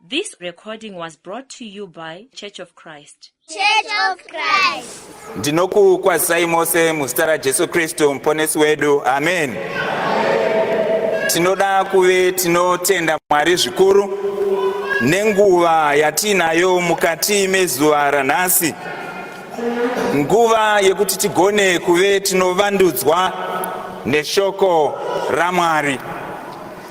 This recording was brought to you by Church of Christ. Church of Christ. Ndinokukwazisai mose muzita raJesu Kristu muponesi wedu. Amen. Tinoda kuve tinotenda Mwari zvikuru nenguva yatiinayo mukati mezuva ranhasi. Nguva yekuti tigone kuve tinovandudzwa neshoko raMwari.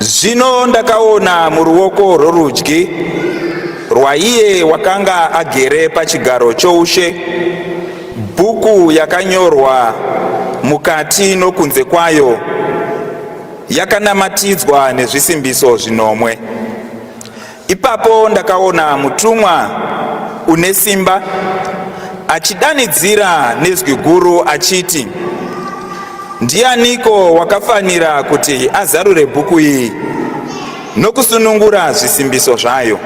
Zvino ndakaona muruoko rworudyi rwaiye wakanga agere pachigaro choushe bhuku yakanyorwa mukati nokunze kwayo yakanamatidzwa nezvisimbiso zvinomwe. Ipapo ndakaona mutumwa une simba achidanidzira nezwi guru achiti, Ndianiko wakafanira kuti azarure bhuku iyi nokusunungura zvisimbiso zvayo?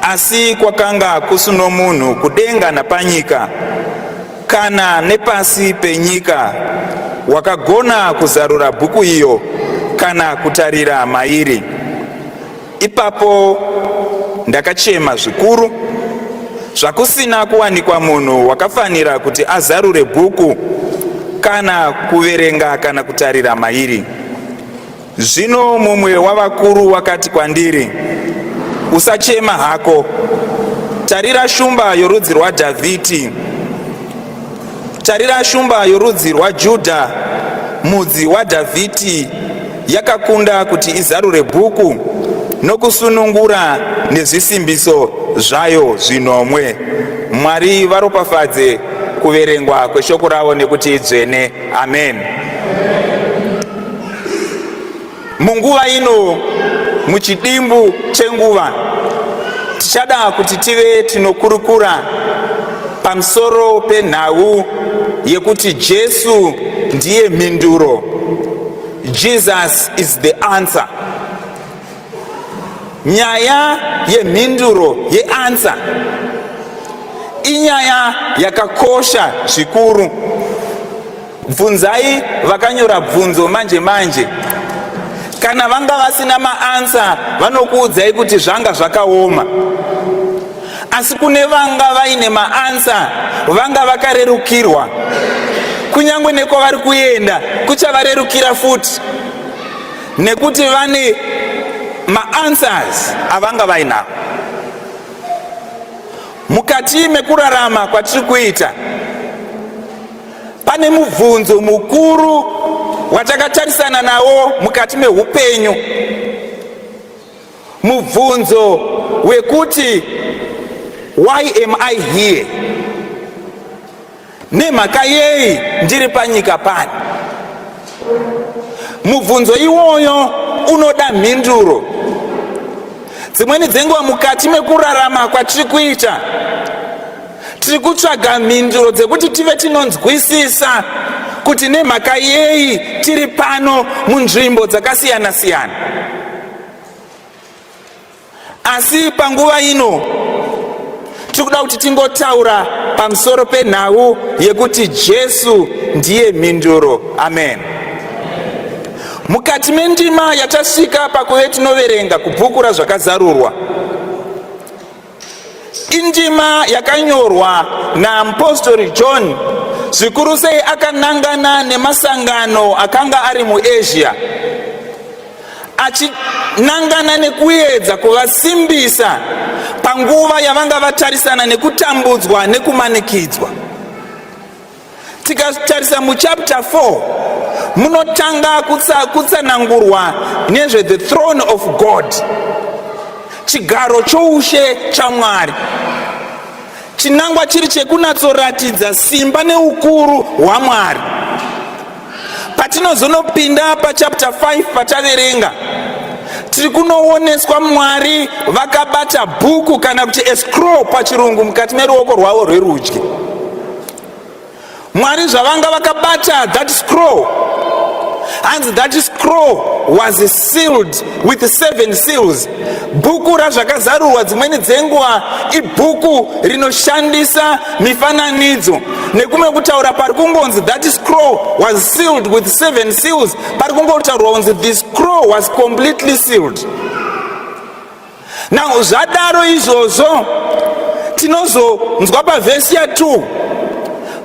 Asi kwakanga kusuno munhu kudenga napanyika kana nepasi penyika wakagona kuzarura bhuku iyo kana kutarira mairi. Ipapo ndakachema zvikuru zvakusina kuwanikwa munhu wakafanira kuti azarure bhuku kana kuverenga kana kutarira mairi. Zvino mumwe wavakuru wakati kwandiri, Usachema hako, tarira shumba yorudzi rwaDhavhidhi, tarira shumba yorudzi rwaJudha, mudzi waDhavhidhi, yakakunda kuti izarure bhuku nokusunungura nezvisimbiso zvayo zvinomwe. Mwari varopafadze kuverengwa kweshoko ravo nekuti idzvene. Amen. Munguva ino, muchidimbu chenguva, tichada kuti tive tinokurukura pamusoro penhau yekuti Jesu ndiye mhinduro. Jesus is the answer. Nyaya yemhinduro yeansa inyaya yakakosha zvikuru. Bvunzai vakanyora bvunzo manje manje. Kana vanga vasina maansa vanokuudzai kuti zvanga zvakaoma. Asi kune vanga vaine maansa vanga vakarerukirwa. Kunyangwe nekwavari kuenda kuchavarerukira futi nekuti vane maanswers avanga vainawo. Mukati mekurarama kwatiri kuita Pane mubvunzo mukuru watakatarisana nawo mukati meupenyu, mubvunzo wekuti why am I here, nemhaka yei ndiri panyika pano. Mubvunzo iwoyo unoda mhinduro. Dzimweni dzenguva mukati mekurarama kwatiri kuita tiri kutsvaga mhinduro dzekuti tive tinonzwisisa kuti nemhaka yei tiri pano munzvimbo dzakasiyana siyana asi panguva ino tiri kuda kuti tingotaura pamusoro penhau yekuti jesu ndiye mhinduro amen mukati mendima yatasvika pakuve tinoverenga kubhuku razvakazarurwa Indima yakanyorwa naapostori John zvikuru sei akanangana nemasangano akanga ari muAsia achinangana nekuedza kuvasimbisa panguva yavanga vatarisana nekutambudzwa nekumanikidzwa. Tikatarisa muchapter 4 munotanga kutsa, kutsanangurwa nezve the throne of God, chigaro choushe chaMwari. Chinangwa chiri chekunatsoratidza simba neukuru hwaMwari. Patinozonopinda pachapter 5 pataverenga tiri kunooneswa Mwari vakabata bhuku kana kuti escrow pachirungu mukati meruoko rwavo rwerudyi. Mwari zvavanga vakabata that scroll hanzi that scroll was sealed with seven seals bhuku razvakazarurwa dzimweni dzenguva ibhuku rinoshandisa mifananidzo nekumwe kutaura pari kungonzi that scroll was sealed with seven seals pari kungotaurwa kunzi the scroll was completely sealed now zvadaro izvozvo tinozonzwa pavhesi ya 2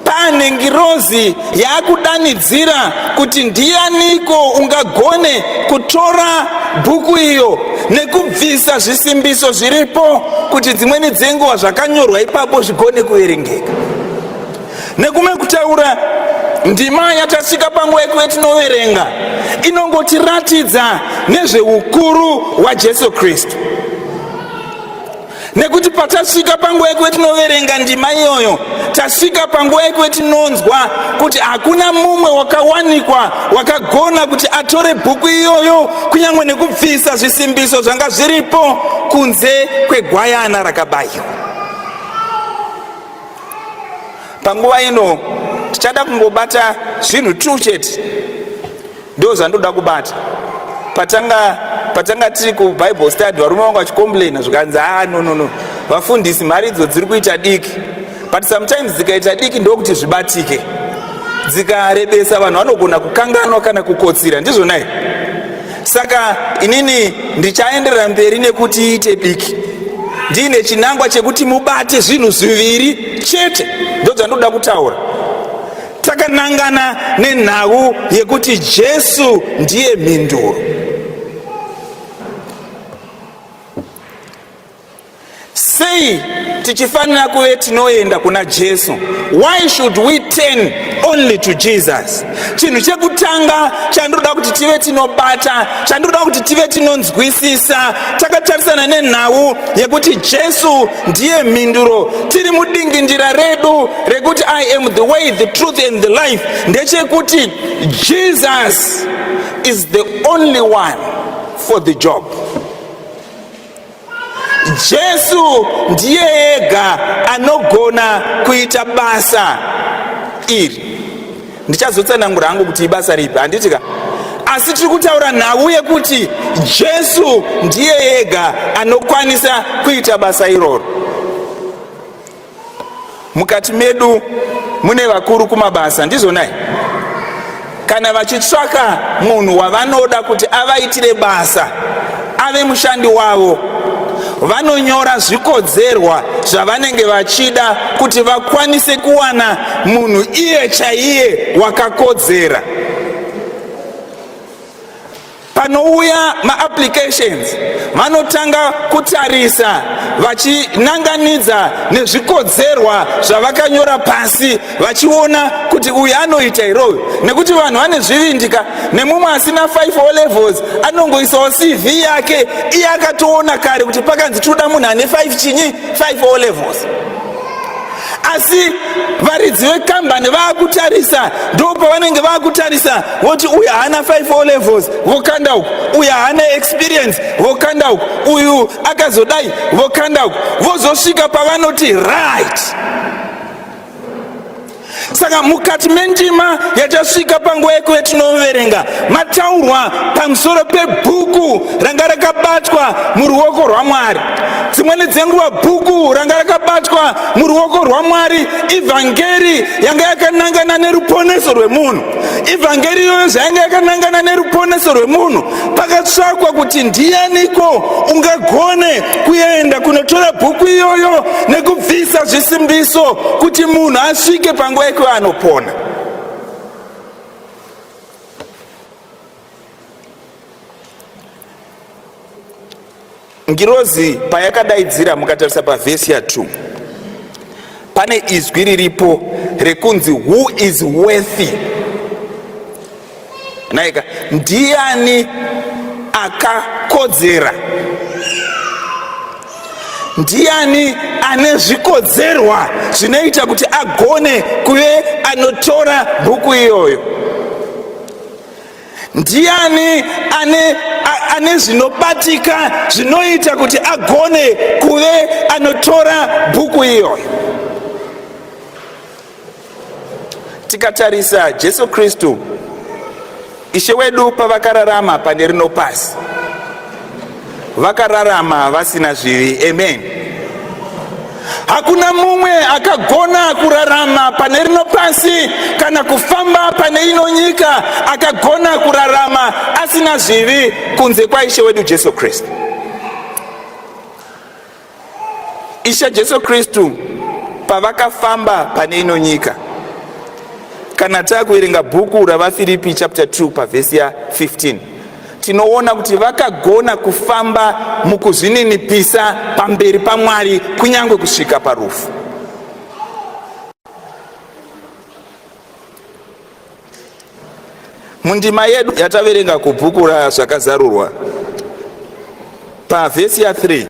pane ngirozi yaakudanidzira kuti ndiyaniko ungagone kutora bhuku iyo nekubvisa zvisimbiso zviripo kuti dzimweni dzenguva zvakanyorwa ipapo zvigone kuverengeka Nekumwe kutaura ndima yatasvika panguva yekuva yatinoverenga inongotiratidza nezveukuru hwajesu kristu nekuti patasvika panguva yekuve tinoverenga ndima iyoyo tasvika panguva yekuve tinonzwa kuti hakuna mumwe wakawanikwa wakagona kuti atore bhuku iyoyo kunyange nekubvisa zvisimbiso zvanga zviripo kunze kwegwayana rakabayiwa panguva ino tichada kungobata zvinhu two chete ndo zvandoda kubata patanga patanga tiri kubible study varume vanga vachicomplaina zvikanzi haa ah, nonono vafundisi mari idzo dziri kuita diki but sometimes dzikaita diki ndokuti zvibatike dzikarebesa vanhu vanogona kukanganwa kana kukotsira ndizvonai saka inini ndichaenderera mberi nekuti iite biki ndiine chinangwa chekuti mubate zvinhu zviviri chete ndodzandoda kutaura takanangana nenhau yekuti jesu ndiye mhinduro Sei tichifanira kuve tinoenda kuna Jesu? Why should we turn only to Jesus? Chinhu chekutanga chandinoda kuti tive tinobata, chandinoda kuti tive tinonzwisisa, takatarisana nenhau yekuti Jesu ndiye mhinduro. Tiri mudingindira redu rekuti I am the way, the truth and the life ndechekuti Jesus is the only one for the job. Jesu ndiye ega anogona kuita basa iri. Ndichazotsanangura hangu kuti ibasa ripi, handiti ka? Asi tiri kutaura nhau yekuti Jesu ndiye ega anokwanisa kuita basa iroro. mukati medu mune vakuru kumabasa ndizvonai kana vachitsvaka munhu wavanoda kuti avaitire basa ave mushandi wavo vanonyora zvikodzerwa zvavanenge vachida kuti vakwanise kuwana munhu iye chaiye wakakodzera Panouya maapplications vanotanga kutarisa vachinanganidza nezvikodzerwa zvavakanyora pasi vachiona kuti uyu anoita here uyu nekuti vanhu vane zvivindika nemumwe asina 5 o levels anongoisawo cv yake iye akatoona kare kuti pakanzi tinoda munhu ane 5 chinyi 5 o levels asi varidzi vekambani vaakutarisa ndo pavanenge vaakutarisa voti uyu haana 5 o levels vokanda uku uyu haana experience vokanda uku uyu akazodai vokanda uku vozosvika pavanoti right saka mukati mendima yatasvika panguva yeko yatinoverenga mataurwa pamusoro pebhuku ranga rakabatwa muruoko rwamwari dzimweni dzenguva bhuku ranga rakabatwa muruoko rwamwari ivhangeri yanga yakanangana neruponeso rwemunhu ivhangeri iyoyo zvayanga yakanangana neruponeso rwemunhu pakatsvakwa kuti ndiyaniko ungagone kuenda kunotora bhuku iyoyo nekubvisa zvisimbiso kuti munhu asvike panguva yekuva anopona Ngirozi payakadaidzira mukatarisa pavhesi ya 2 pane izwi riripo rekunzi who is worthy naika ndiani akakodzera ndiani ane zvikodzerwa zvinoita kuti agone kuve anotora bhuku iyoyo Ndiani ane ane zvinobatika zvinoita kuti agone kuve anotora bhuku iyoyo? Tikatarisa Jesu Kristu Ishe wedu pavakararama pane rino pasi vakararama vasina zvivi amen hakuna mumwe akagona kurarama pane rino pasi kana kufamba pane ino nyika akagona kurarama asina zvivi kunze kwaishe wedu jesu kristu Ishe Jesu Kristu pavakafamba pane ino nyika. Kana takuverenga bhuku raVafiripi chapter 2 pavhesi ya 15 tinoona kuti vakagona kufamba mukuzvininipisa pamberi paMwari kunyange kusvika parufu. Mundima yedu yataverenga kubhuku raZvakazarurwa, pavhesi ya3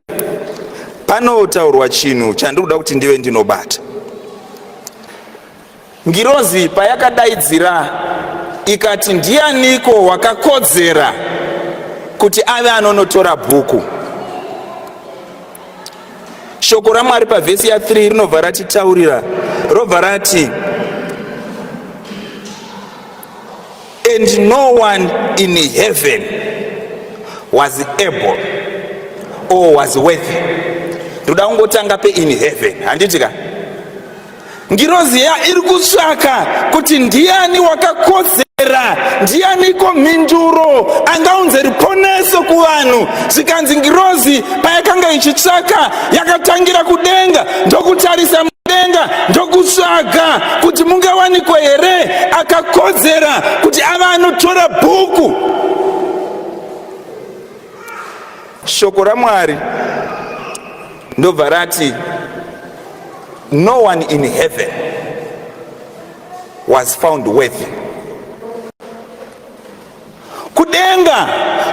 panotaurwa chinhu chandiri kuda kuti ndive ndinobata. Ngirozi payakadaidzira ikati, Ndianiko wakakodzera kuti ave anonotora bhuku? Shoko raMwari pavhesi ya3 rinobva ratitaurira robva rati and no one in heaven was able or was worthy. Ndoda kungotanga pe in heaven, handiti ka? Ngirozi iya iri kutsvaka kuti ndiani wakakodzera, ndianiko mhinduro angaunze ruponeso kuvanhu. Zvikanzi ngirozi payakanga ichitsvaka, yakatangira kudenga ndokutarisa mudenga ndokutsvaga kuti mungawanikwe here akakodzera kuti ava anotora bhuku. Shoko raMwari ndobva rati no one in heaven was found worthy. Kudenga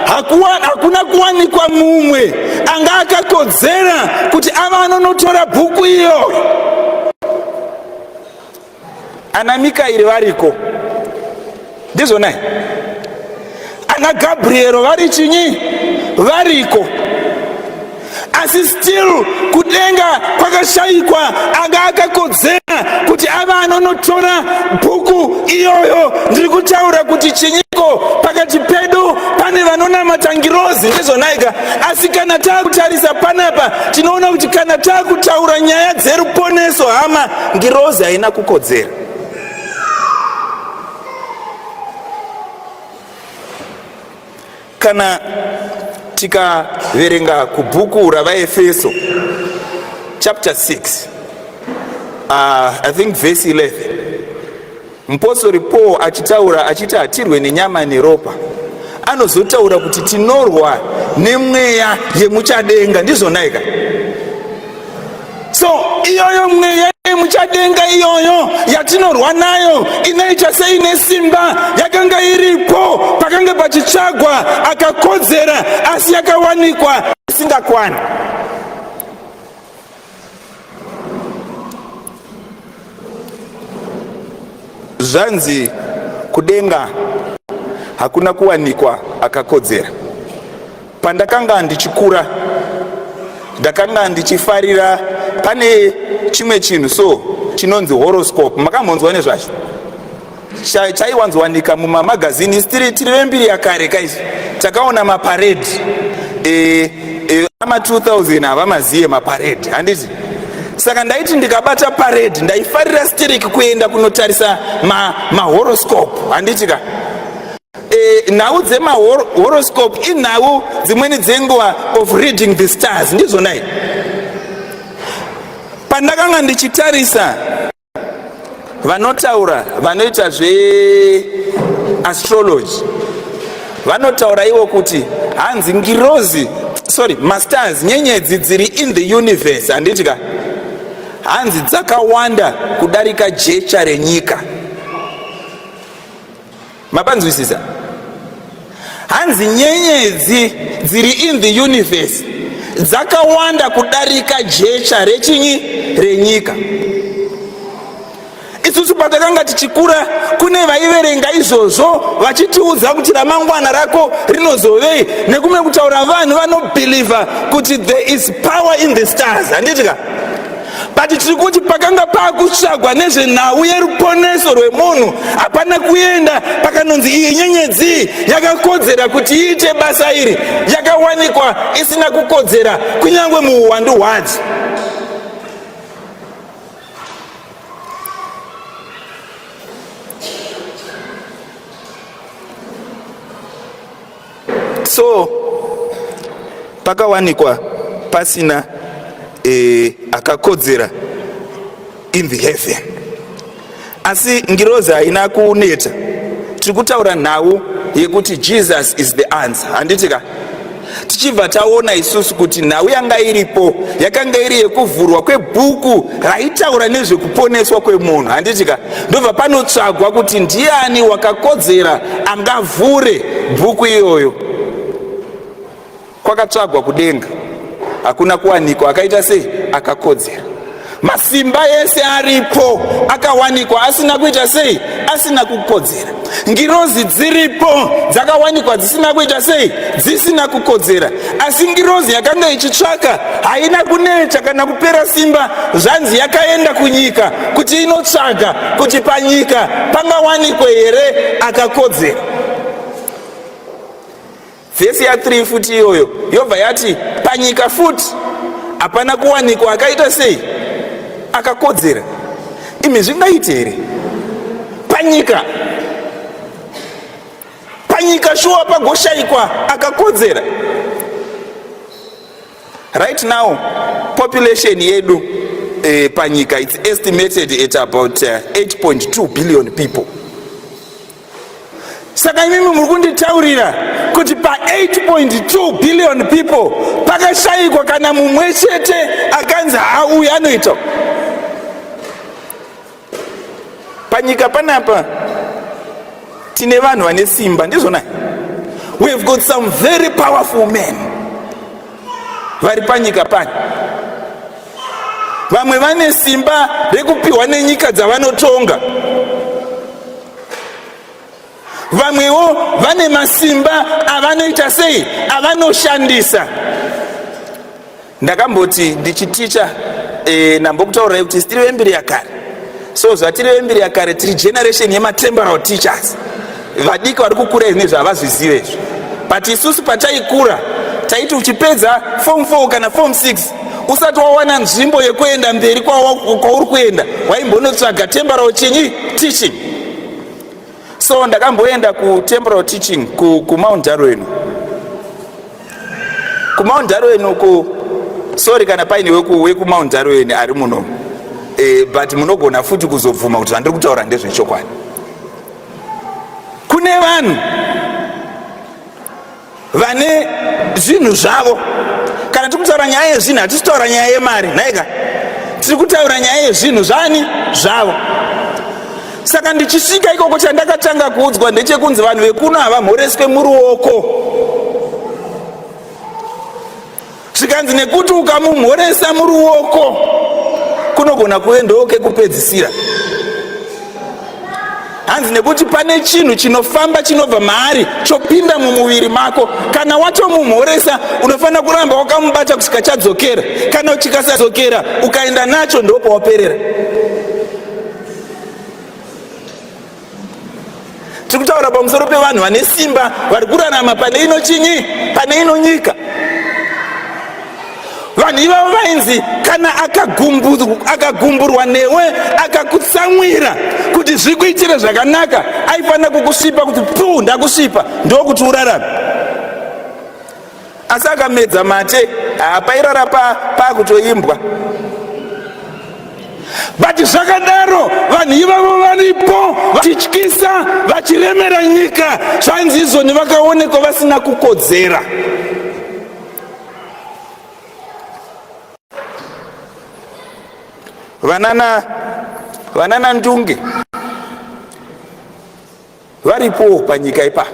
hakuna kuwanikwa mumwe anga akakodzera kuti ava anonotora bhuku iyo. ana mikairi variko ndizvonai ana gabriero vari chinyi variko asi still kudenga kwakashayikwa anga akakodzera kuti ava anonotora bhuku iyoyo ndiri kutaura kuti chinyiko pakati pedu pane vanonamata ngirozi ndizvonaika asi kana taakutarisa panapa tinoona kuti kana taakutaura nyaya dzeruponeso hama Ngirozi haina kukodzera. Kana tikaverenga kubhuku ravaefeso chapter 6 uh, i think verse 11 Mupostori Paul achitaura achiti hatirwe nenyama neropa anozotaura kuti tinorwa nemweya yemuchadenga ndizvonaika so iyoyo mweya yemuchadenga iyoyo yatinorwa nayo inoita seine simba yakanga iripo pakange pachitsvagwa akakodzera asi yakawanikwa isingakwana zvanzi kudenga hakuna kuwanikwa akakodzera pandakanga ndichikura ndakanga ndichifarira pane chimwe chinhu so chinonzi horoscope makambonzwa nezvacho chaiwanzowanika mumamagazini isi tiri tiri vembiri yakare kaizvi takaona maparedhi e, e, ama 2000 havamazive maparedhi handiti saka ndaiti ndikabata paredhi ndaifarira stiriki kuenda kunotarisa mahoroscope ma handiti ka e, nhau dzemahoroscope inhau dzimweni dzenguva of reading the stars ndizvonai pandakanga ndichitarisa vanotaura vanoita zveastrology vanotaura ivo kuti hanzi ngirozi sorry masters nyenyedzi dziri in the universe handiti ka hanzi dzakawanda kudarika jecha renyika mapanzwisisa hanzi nyenyedzi dziri in the universe dzakawanda kudarika jecha rechinyi renyika isusu patakanga tichikura kune vaiverenga izvozvo vachitiudza kuti ramangwana rako rinozovei nekumwe kutaura vanhu vanobhilivha kuti there is power in the stars handiti ka but tiri kuti pakanga paakutsvagwa nezvenhau yeruponeso rwemunhu hapana kuenda pakanonzi iyi nyenyedzi yakakodzera kuti iite basa iri yakawanikwa isina kukodzera kunyange muuwandu hwadzo so pakawanikwa pasina e, akakodzera in the heaven asi ngirozi haina kuneta tiri kutaura nhau yekuti jesus is the answer handiti ka tichibva taona isusu kuti nhau yanga iripo yakanga iri yekuvhurwa kwebhuku raitaura nezvekuponeswa kwemunhu handiti ka ndobva panotsvagwa kuti ndiani wakakodzera angavhure bhuku iyoyo kwakatsvagwa kudenga hakuna kuwanikwa akaita sei akakodzera masimba ese aripo akawanikwa asina kuita sei asina kukodzera ngirozi dziripo dzakawanikwa dzisina kuita sei dzisina kukodzera asi ngirozi yakanga ichitsvaka haina kuneta kana kupera simba zvanzi yakaenda kunyika kuti inotsvaga kuti panyika pangawanikwe here akakodzera Vhesi ya 3 futi iyoyo yobva yati, Panyika futi hapana kuwanikwa akaita sei? Akakodzera. Imi zvingaite here? Panyika panyika shuwa pagoshaikwa akakodzera right now population yedu eh, panyika its estimated at about uh, eh, 8.2 billion people saka imimi muri kunditaurira kuti pa 8.2 billion people pakashayikwa kana mumwe chete akanzi hauyi anoita panyika panapa tine vanhu vane simba ndizvona we have got some very powerful men vari panyika pani vamwe vane simba rekupiwa nenyika dzavanotonga vamwewo vane masimba avanoita sei avanoshandisa ndakamboti ndichiticha e, eh, nambokutaurai kuti tiri vembiri yakare so zvatiri vembiri yakare tiri generation yematemporal teachers vadiki vari kukura izvi nezvavazvizive izvi but isusu pataikura taiti uchipedza form 4 kana form 6 usati wawana nzvimbo yekuenda mberi kwauri kuenda waimbonotsvaga temporal chinyi teaching so ndakamboenda kutemporal teaching kumount darwen kumount darwen uku sorry kana paine wekumount darwen ari muno e, but munogona futi kuzobvuma kuti zvandiri kutaura ndezvechokwadi kune vanhu vane zvinhu zvavo kana tiri kutaura nyaya yezvinhu hatisi kutaura nyaya yemari nhaika tiri kutaura nyaya yezvinhu zvani zvavo saka ndichisvika ikoko chandakatanga kuudzwa ndechekunzi vanhu vekuno havamhoreswe muruoko zvikanzi nekuti ukamumhoresa muruoko kunogona kuve ndokekupedzisira hanzi nekuti pane chinhu chinofamba chinobva maari chopinda mumuviri mako kana watomumhoresa unofanira kuramba wakamubata kusvika chadzokera kana chikasadzokera ukaenda nacho ndopawaperera tiri kutaura pamusoro pevanhu vane simba vari kurarama pane ino chinyi pane ino nyika vanhu ivavo vainzi kana akagumburwa newe akakutsamwira kuti zvikuitire zvakanaka aifanira kukusvipa kuti puu ndakusvipa ndokuti urarame asi akamedza mate haapairara pakutoimbwa but zvakadaro vanhu ivavo varipo vachityisa vachiremera nyika zvanzi izvoni vakaonekwa vasina kukodzera vanana vanana ndunge varipowo panyika ipa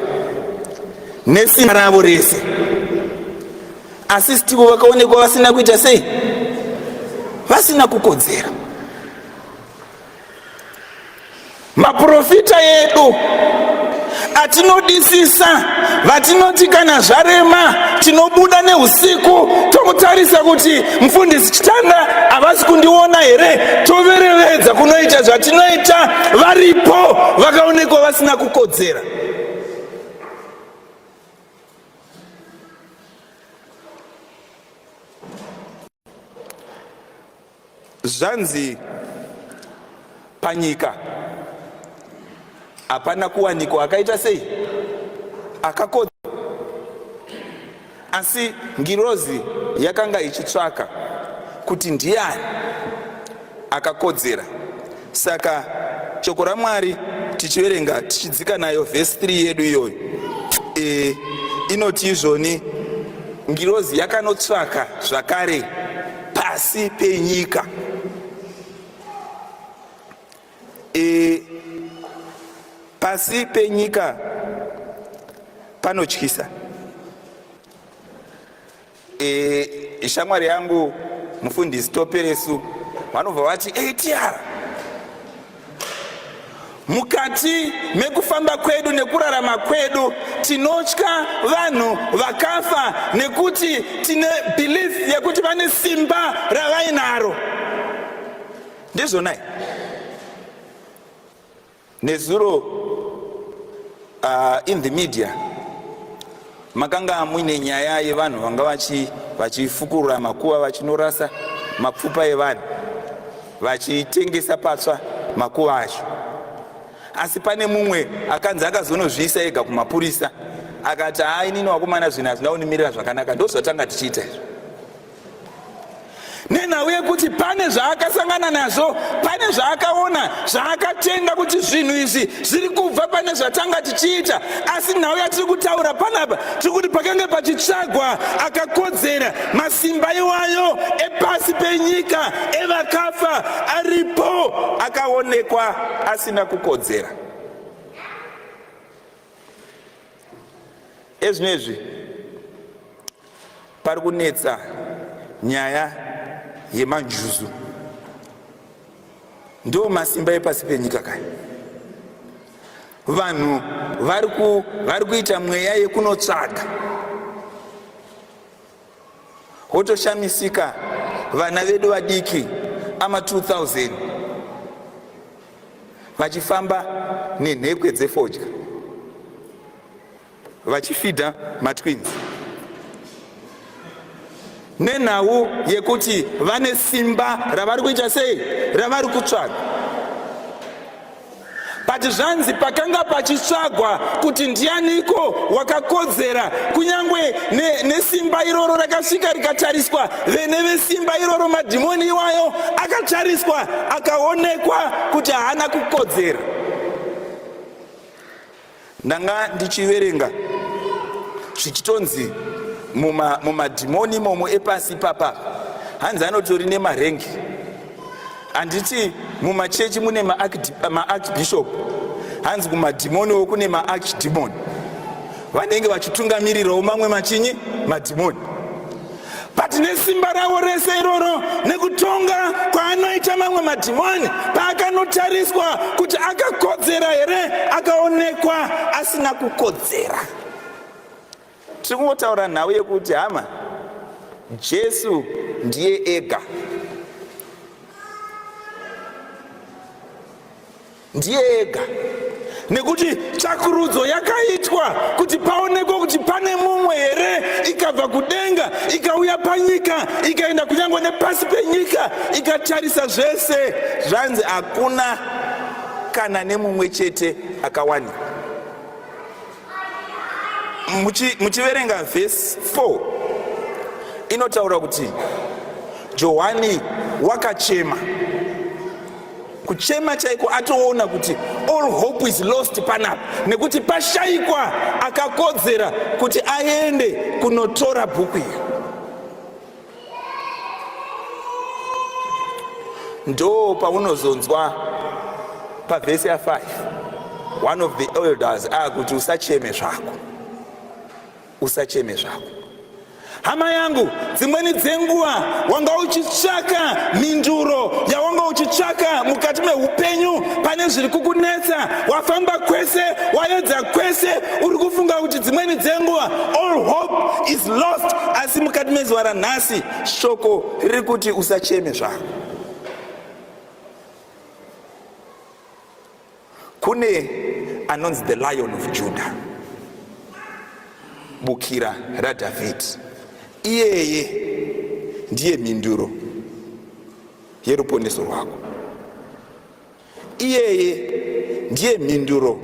nesimba ravo rese asi stivo vakaonekwa vasina kuita sei vasina kukodzera maprofita edu atinodisisa vatinoti kana zvarema tinobuda neusiku tokutarisa kuti mfundisi chitanda havasi kundiona here toverevedza kunoita zvatinoita varipo vakaonekwa vasina kukodzera zvanzi Panyika hapana kuwanikwa akaita sei akakodza, asi ngirozi yakanga ichitsvaka kuti ndiani akakodzera. Saka shoko raMwari tichiverenga tichidzika nayo vhesi 3 yedu iyoyo e, inoti izvoni ngirozi yakanotsvaka zvakare pasi penyika e, pasi penyika panotyisa e, shamwari yangu mufundisi toperesu vanobva vati atr Mukati mekufamba kwedu nekurarama kwedu tinotya vanhu vakafa nekuti tine belief yekuti vane simba ravainaro. Ndizvonai nezuro Uh, in the media makanga muine nyaya yevanhu vanga vachifukurura makuva vachinorasa mapfupa evanhu vachitengesa patsva makuva acho asi pane mumwe akanzi akazonozviisa ega kumapurisa akati haa inini wakomana zvinhu hazvina kunimirira zvakanaka ndozvatanga tichiita izvo nenhau yekuti pane zvaakasangana nazvo pane zvaakaona zvaakatenga kuti zvinhu izvi zviri kubva pane zvatanga tichiita asi nhau yatiri kutaura panapa tiri kuti pakange pachitsvagwa akakodzera masimba iwayo epasi penyika evakafa aripo akaonekwa asina kukodzera ezvinezvi pari kunetsa nyaya yemanjuzu ndo masimba epasi penyika kai vanhu vari kuita mweya yekunotsvaga Wotoshamisika vana vedu vadiki ama 2000 vachifamba nenhekwe dzefodya vachifidha matwins nenhau yekuti vane simba ravari kuita sei ravari kutsvaga but zvanzi pakanga pachitsvagwa kuti ndianiko wakakodzera kunyange nesimba ne iroro rakasvika rikatariswa vene vesimba iroro madhimoni iwayo akatariswa akaonekwa kuti haana kukodzera Ndanga ndichiverenga zvichitonzi mumadhimoni muma momo epasi ipapa hanzi anotori nemarengi handiti mumachechi mune maarchbishop hanzi kumadhimoniwo kune maarchdemon vanenge vachitungamirirawo mamwe machinyi madhimoni but nesimba ravo rese iroro nekutonga kwaanoita mamwe madhimoni paakanotariswa kuti akakodzera here akaonekwa asina kukodzera tiri kungotaura nhau yekuti hama jesu ndiye ega ndiye ega nekuti tsvakurudzo yakaitwa kuti paonekwe kuti pane mumwe here ikabva kudenga ikauya panyika ikaenda kunyange nepasi penyika ikatarisa zvese zvanzi hakuna kana nemumwe chete akawani muchiverenga vhesi 4 inotaura kuti johani wakachema kuchema chaiko atoona kuti all hope is lost panapa nekuti pashaikwa akakodzera kuti aende kunotora bhuku iyo ndo paunozonzwa pavhesi ya5 one of the elders akuti usacheme zvako Usacheme zvako hama yangu, dzimweni dzenguva wanga uchitsvaka mhinduro yawanga uchitsvaka mukati meupenyu pane zviri kukunetsa. Wafamba kwese, wayedza kwese, uri kufunga kuti dzimweni dzenguva all hope is lost, asi mukati mezuva ranhasi shoko riri kuti usacheme zvako. Kune anonzi the lion of Judah, bukira raDhavhidhi. Iyeye ndiye mhinduro yeruponeso rwako. Iyeye ndiye mhinduro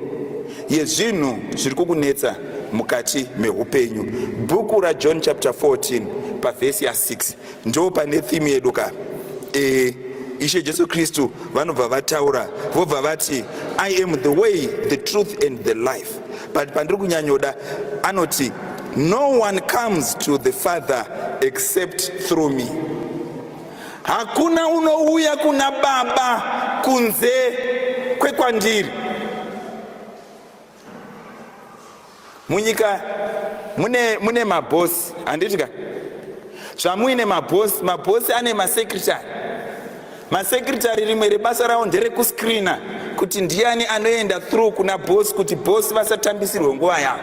yezvinhu zviri kukunetsa mukati meupenyu. Bhuku raJohn chapter 14 pavhesi ya 6 Ndo pane theme yedu ka. Eh Ishe Jesu Kristu vanobva vataura vobva vati I am the way, the truth and the life. But pandiri kunyanyoda anoti no one comes to the father except through me. Hakuna unouya kuna baba kunze kwekwandiri. munyika mune mune mabhosi handiti ka zvamuine mabhosi mabhosi ane masekretary masekretary rimwe rebasa ravo nderekuscreena kuti ndiani anoenda through kuna bhosi kuti bhosi vasatambisirwe nguva yavo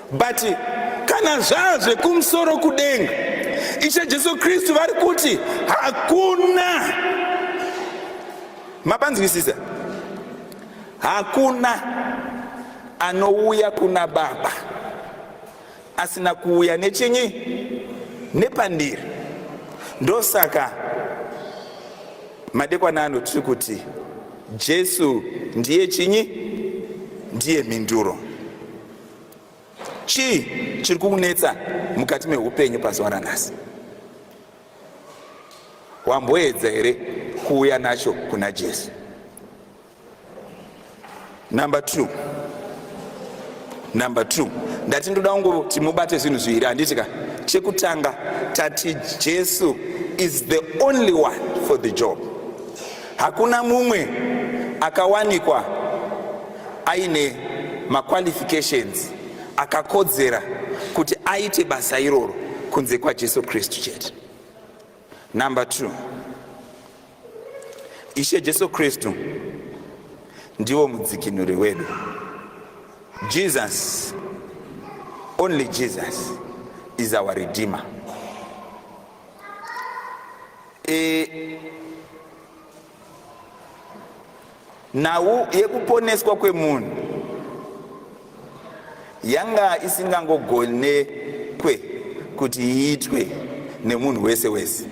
but kana zvaa zvekumusoro kudenga ishe jesu kristu vari kuti hakuna mapanzwisisa hakuna anouya kuna baba asina kuuya nechinyi nepandiri ndosaka madekwana ano tiri kuti jesu ndiye chinyi ndiye mhinduro chii chiri kukunetsa mukati meupenyu pazuva ranhasi wamboedza here kuuya nacho kuna jesu number two number two ndati ndoda kungoti mubate zvinhu zviviri handiti ka chekutanga tati jesu is the only one for the job hakuna mumwe akawanikwa aine maqualifications akakodzera kuti aite basa iroro kunze kwajesu kristu chete number two ishe jesu kristu ndivo mudzikinuri wedu jesus only jesus is our redeemer e, nhau yekuponeswa kwemunhu yanga isingangogonekwe kuti iitwe nemunhu wese wese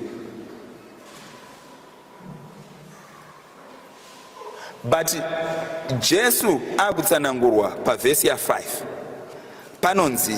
but jesu akutsanangurwa pavhesi ya5 panonzi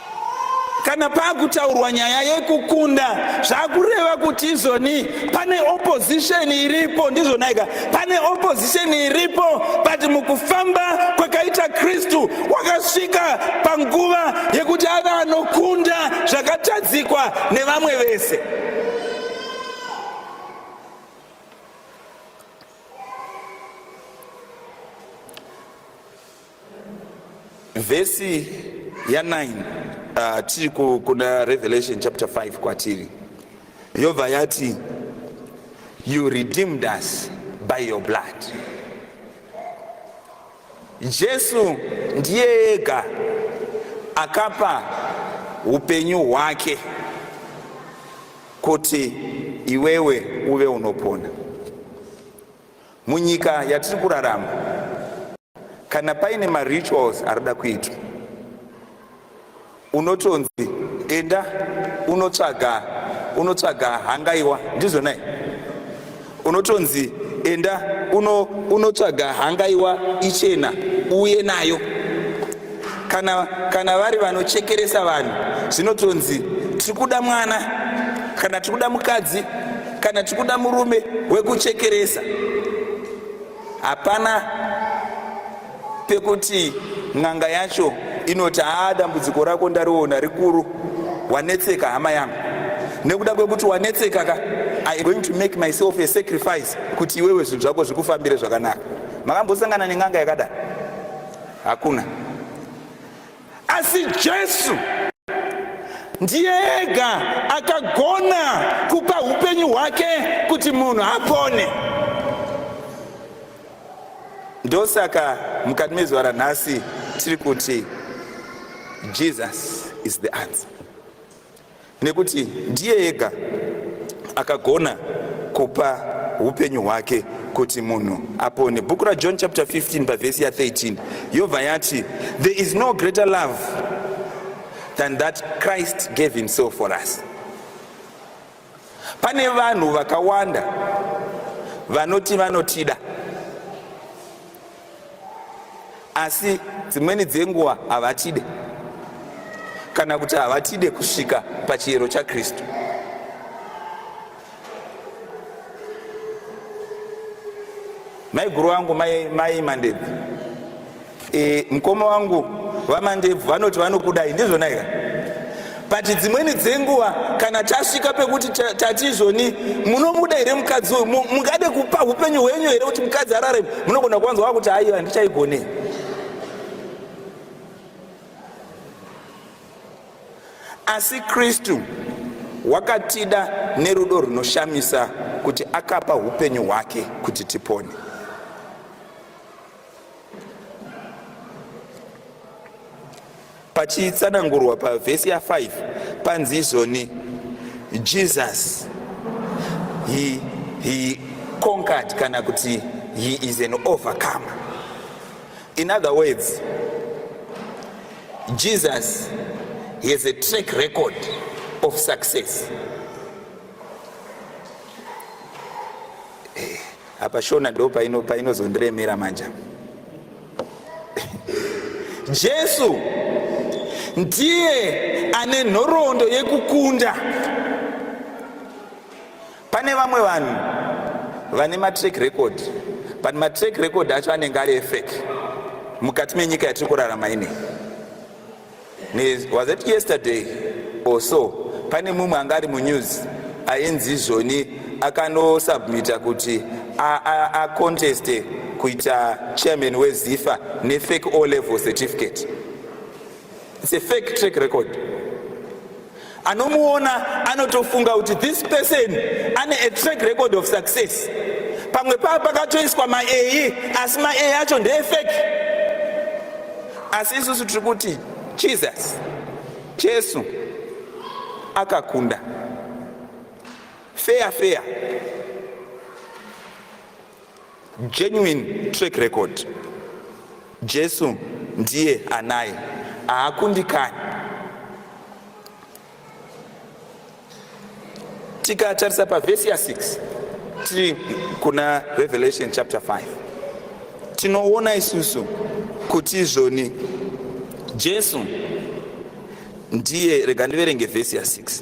kana pakutaurwa nyaya yekukunda zvakureva kuti izoni pane opposition iripo ndizvonaika pane opposition iripo but mukufamba kwakaita kristu wakasvika panguva yekuti ave anokunda zvakatadzikwa nevamwe vese Vhesi ya 9 uh, tiri kuna Revelation chapter 5 kwatiri yobva yati you redeemed us by your blood. Jesu ndiye ega akapa upenyu hwake kuti iwewe uve unopona munyika yatiri kurarama. kana paine marituals arida kuitwa unotonzi enda unotsvaga unotsvaga hangaiwa ndizvo nai unotonzi enda unotsvaga uno hangaiwa ichena uye nayo kana, kana vari vanochekeresa vanhu zvinotonzi tiri kuda mwana kana tiri kuda mukadzi kana tiri kuda murume wekuchekeresa Hapana pekuti n'anga yacho inoti haa dambudziko rako ndariona rikuru wanetseka hama yangu nekuda kwekuti wanetseka ka i going to make myself a sacrifice kuti iwewe zvinhu zvako zvikufambire zvakanaka makambosangana nen'anga yakadai hakuna asi jesu ndiye ega akagona kupa upenyu hwake kuti munhu apone ndosaka mukati mezuva ranhasi tiri kuti jesus is the answer nekuti ndiye ega akagona kupa upenyu hwake kuti munhu apone bhuku rajohn chapter 15 pavhesi ya13 yobva yati there is no greater love than that christ gave himself for us pane vanhu vakawanda vanoti vanotida asi dzimweni dzenguva havatide kana kuti havatide kusvika pachiyero chakristu maiguru vangu mai, mai mandebvu e, mukoma wangu vamandebvu vanoti vanokudai ndizvona here but dzimweni dzenguva kana tasvika pekuti tati izvoni munomuda here mukadzi uyu mungade kupa upenyu hwenyu here kuti mukadzi arare munogona kuwanzwa wakuti haiwa handichaigonei asi kristu wakatida nerudo runoshamisa kuti akapa upenyu hwake kuti tipone pachitsanangurwa pavhesi ya5 panzi izvoni jesus he, he conquered kana kuti he is an overcomer in other words jesus he has a track record of success apa shona do paino painozondiremera manja jesu ndiye ane nhoroondo yekukunda pane vamwe vanhu vane matrack record but matrack record acho anenge ari efek mukati menyika yatiri kurarama inei was it yesterday or so pane mumwe anga ari munews ainzi izvoni akanosubmita kuti aconteste kuita chairman wezifa nefake o level certificate its a fake track record anomuona anotofunga kuti this person ane a track record of success pamwe paa pakatoiswa maei asi maei acho ndeefeki asi isusu tiri kuti jesus jesu akakunda feya feya genuine track record jesu ndiye anaye haakundikani tikatarisa pavhesi ya6 tiri kuna revelation chapter 5 tinoona isusu kuti izvoni jesu ndiye rega ndiverenge vhesi ya6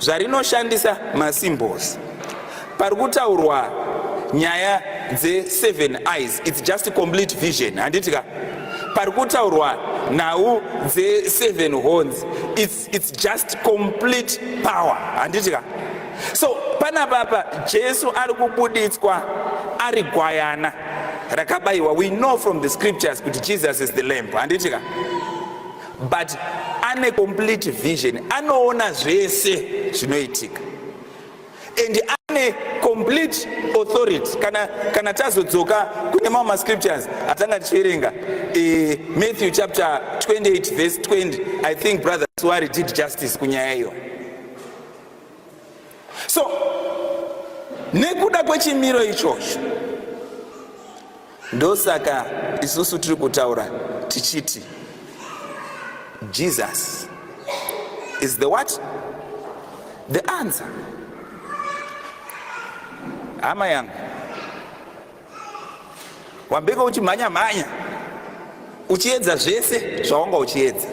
zvarinoshandisa masymbols pari kutaurwa nyaya dzeseven eyes its just complete vision handiti ka pari kutaurwa nhau dzeseven horns its, its just complete power handiti ka so panapapa jesu ari kubuditswa ari gwayana rakabayiwa we know from the scriptures kuti jesus is the lamp handiti ka but ane complete vision anoona zvese zvinoitika and ane complete authority kana, kana tazodzoka kune mamwe mascriptures atanga tichiverenga e, matthew chapter 28 verse 20 i think brother suari did justice kunyaya iyo so nekuda kwechimiro ichocho Ndosaka isusu tiri kutaura tichiti Jesus is the what? The answer. Hama yangu, wambeko uchimhanya mhanya, uchiedza zvese zvawanga uchiedza,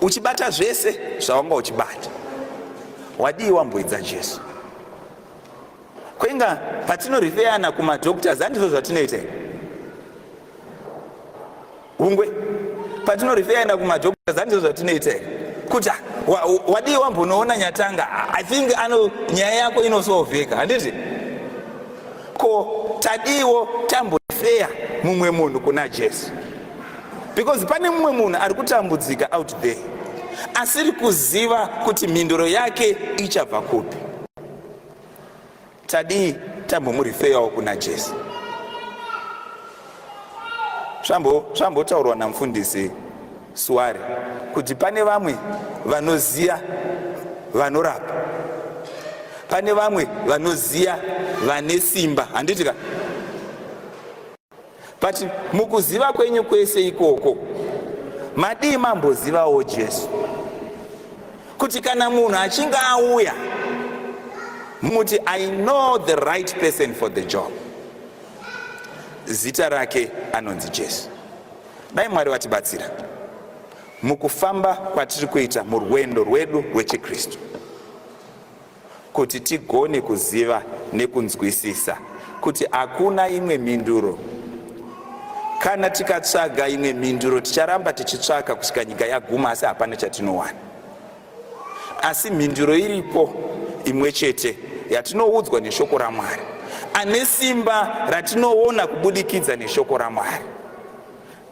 uchibata zvese zvawanga uchibata, wadii wamboidza Jesu? kwenga patinorifeyana kumadoctors handizvo zvatinoita hungwe patinorifeyana kumadoctors handizvo zvatinoita kuti wadii wambonoona nyatanga i think ano nyaya yako inosolveka handiti ko tadiwo tambofeya mumwe munhu kuna jesu because pane mumwe munhu ari kutambudzika out there asiri kuziva kuti mhinduro yake ichabva kupi tadii tambomurifeyawo kuna jesu zvambotaurwa namfundisi suwari kuti pane vamwe vanoziya vanorapa pane vamwe vanoziya vane simba handitika but mukuziva kwenyu kwese ikoko madii mambozivawo jesu kuti kana munhu achinge auya muti i know the right person for the job zita rake anonzi jesu dai mwari vatibatsira mukufamba kwatiri kuita murwendo rwedu rwechikristu kuti tigone kuziva nekunzwisisa kuti hakuna imwe mhinduro kana tikatsvaga imwe mhinduro ticharamba tichitsvaka kusvika nyika yaguma asi hapana chatinowana asi mhinduro iripo imwe chete yatinoudzwa neshoko ramwari ane simba ratinoona kubudikidza neshoko ramwari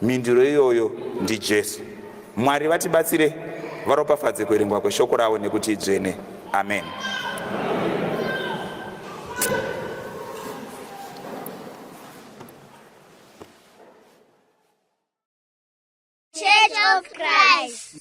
Mhinduro iyoyo ndiJesu. Mwari vatibatsire, varopafadze kuerengwa kweshoko ravo nekuti idzvene. Amen. Church of Christ.